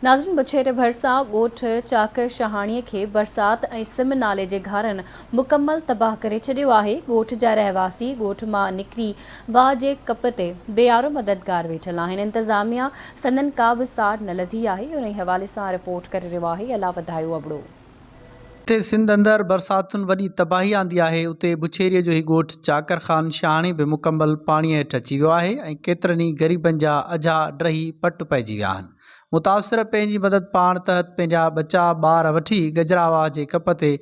ناظرين بڇيري ڀرسان ڳوٺ چاڪ شاهاڻي کي برسات ۽ سم نالي جي گهارن مڪمل تباهه ڪري ڇڏيو آهي، ڳوٺ جا رهواسي ڳوٺ مان نڪري واهه جي ڪپ تي بي آرو مددگار ويٺل آهن، انتظاميا سندن ڪا به ساڙ نه لڌي آهي، انهي حوالي سان رپورٽ ڪري رهيو آهي الا وڌايو ابڙو. جتي سنڌ اندر برساتن وڏي تباهي آندي آهي، اتي بڇيري جو هي ڳوٺ چاڪر خان شاهاڻي به مڪمل پاڻي هيٺ اچي ويو آهي ۽ ڪيترن ئي غريبن جا اجها ڊهي پٽ پئجي ويا آهن. متاثر پنهنجي مدد پاڻ تحت پنهنجا ٻچا ٻار وٺي گجراواهه جي ڪپ تي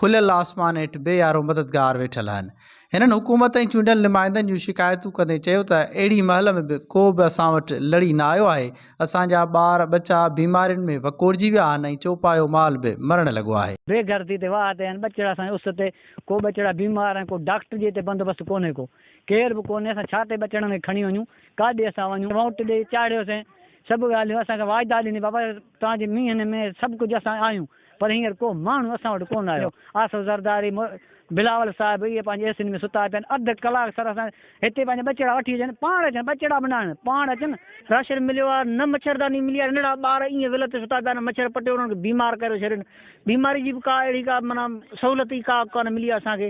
کليل آسمان هيٺ بي يارو مددگار ويٺل آهن. هنن حڪومت ۽ چونڊيل نمائندن جون شڪايتون ڪندي چيو ته اهڙي مهل ۾ به ڪو به اسان وٽ لڙي نه آيو آهي، اسان جا ٻار ٻچا بيمارين ۾ وڪوڙجي ويا آهن ۽ چوپايو مال به مرڻ لڳو آهي. بي گهرتي تي واهه تي آهن ٻچڙا سائين اس تي ڪو ٻچڙا بيمار آهن ڪو ڊاڪٽر جي هتي بندوبست ڪونهي ڪو ڪير به ڪونهي اسان ڇا تي ٻچڙن کي کڻي وڃون ڪاڏي اسان وڃون ووٽ ڏئي چاڙهيوسين سڀ ڳالهيون اسان کي واعدا ڏني بابا توهان جي مينهن ۾ سڀ ڪجهه اسان آهيون پر هينئر ڪو ماڻهو اسان وٽ ڪونه آيو. آصف زرداري، مو، بلاول صاحب اهي پنهنجي اي سين ۾ ستا پيا آهن. اڌ ڪلاڪ سر اسان هتي پنهنجا ٻچڙا وٺي اچن. پاڻ اچن، ٻچڙا به نه آڻن، پاڻ اچن. راشن مليو آهي، نه مڇرداني ملي آهي. ننڍڙا ٻار ائين ول تي ستا پيا آهن، مڇر پٽي انهن کي بيمار ڪري ڇڏين. بيماري جي به ڪا اهڙي ڪا معنيٰ سهولت ئي ڪا ڪانه ملي آهي اسان کي.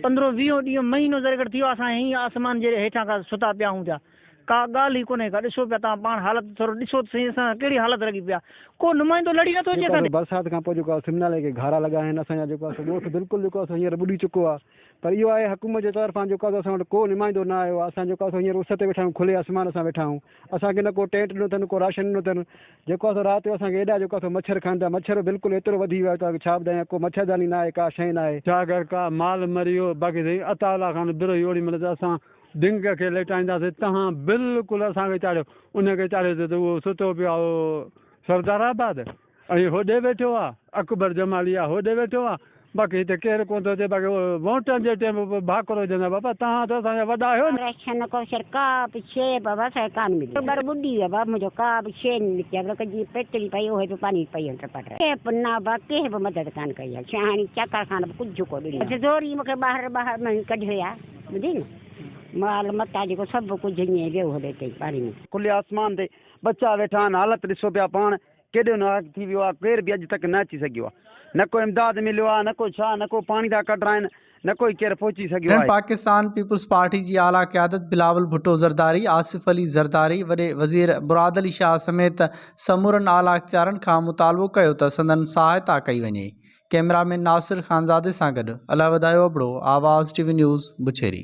پندرهون ويهون ڏينهن، مهينو ذريگهٽ ٿي ويو آهي، اسان هينئين آسمان جي هيٺان ڪا ستا پيا آهيون پيا. ڪا ڳالهه ئي ڪونهي ڪا ڏسو پيا توهان پاڻ حالت ٿورو ڏسو ته سهي اسان سان ڪهڙي حالت لڳي پيا ڪو نمائندو لڙي نٿو اچي اسان ڏي. برسات کان پوء جيڪو سم نالي کي گهارا لڳا آهن اسان جا جيڪو سو ڳوٺ بلڪل جيڪو سو هينئر ٻڏي چڪو آهي پر اهو آهي حڪومت جي طرفان جيڪو سو اسان وٽ ڪو نمائندو نه آيو آهي اسان جيڪو سو هينئر اس تي ويٺا آهيون کلي آسمان سان ويٺا آهيون اسان کي نه ڪو ٽينٽ ڏنو اٿن ڪو راشن ڏنو اٿن جيڪو سو رات جو اسان کي ايڏا جيڪو سو مڇر کائن ٿا مڇر بلڪل ايترو وڌي ويو آهي توهان کي ڇا ٻڌايان ڪو مڇرداني نه آهي ڪا شئي نه آهي. جا گهر ڪا مال مري ويو باقي سائين عطاء الله خان برو هيو اوڏي مهل ته اسان دنگ کي ليٽائينداسين، تنهن بلڪل اسان کي چاڙهيو. ان کي چاڙهيو ته اهو ستو پيو آهي سردار آباد ۽ هوڏي ويٺو آهي اڪبر جمالي آهي هوڏي ويٺو آهي باقي هتي ڪير ڪونه ٿو اچي باقي ووٽن جي ٽيم به ڀاڪر هجن ها بابا تهان ته اسان جا وڏا آهيو نه. رشن ڪوشر ڪا به شي بابا اسان کي ڪانه ملي ٻر ٻڏي ويا بابا منهنجو ڪا به شي نه نڪتي آهي بلڪ جيئن پيتڙي پئي اهو به پاڻي پئي ويو ٽپا ٽپ ڪنهن به نه بابا ڪنهن به مدد ڪانه ڪئي آهي شاهاڻي چڪر خان به ڪجهه ڪو ڏنو آهي زوري مون کي ٻاهر ٻاهر مان ڪڍي ويا. ٻڌي نه مال متان جيڪو سڀ ڪجهه اڃي ويو هلي اتي ئي پاڻي ۾. کلي آسمان تي ٻچا ويٺا آهن حالت ڏسو پيا پاڻ ڪيڏو ناحق ٿي ويو آهي ڪير به اڄ تڪ نه اچي سگهيو آهي نه ڪو امداد مليو آهي نه ڪو ڇا نه ڪو پاڻي ٿا ڪڍرائين نه ڪو ئي ڪير پهچي سگهيو هن آهي. پاڪستان پيپلز پارٽي جي اعليٰ قيادت بلاول ڀٽو زرداري، آصف علي زرداري، وڏي وزير مراد علي شاهه سميت سمورن اعليٰ اختيارن کان مطالبو ڪيو ته سندن سهائتا ڪئي وڃي. ڪئميرا مين ناصر خانزادي سان گڏ علي وڌايو ابڙو، آواز ٽي وي نيوز، بڇيري.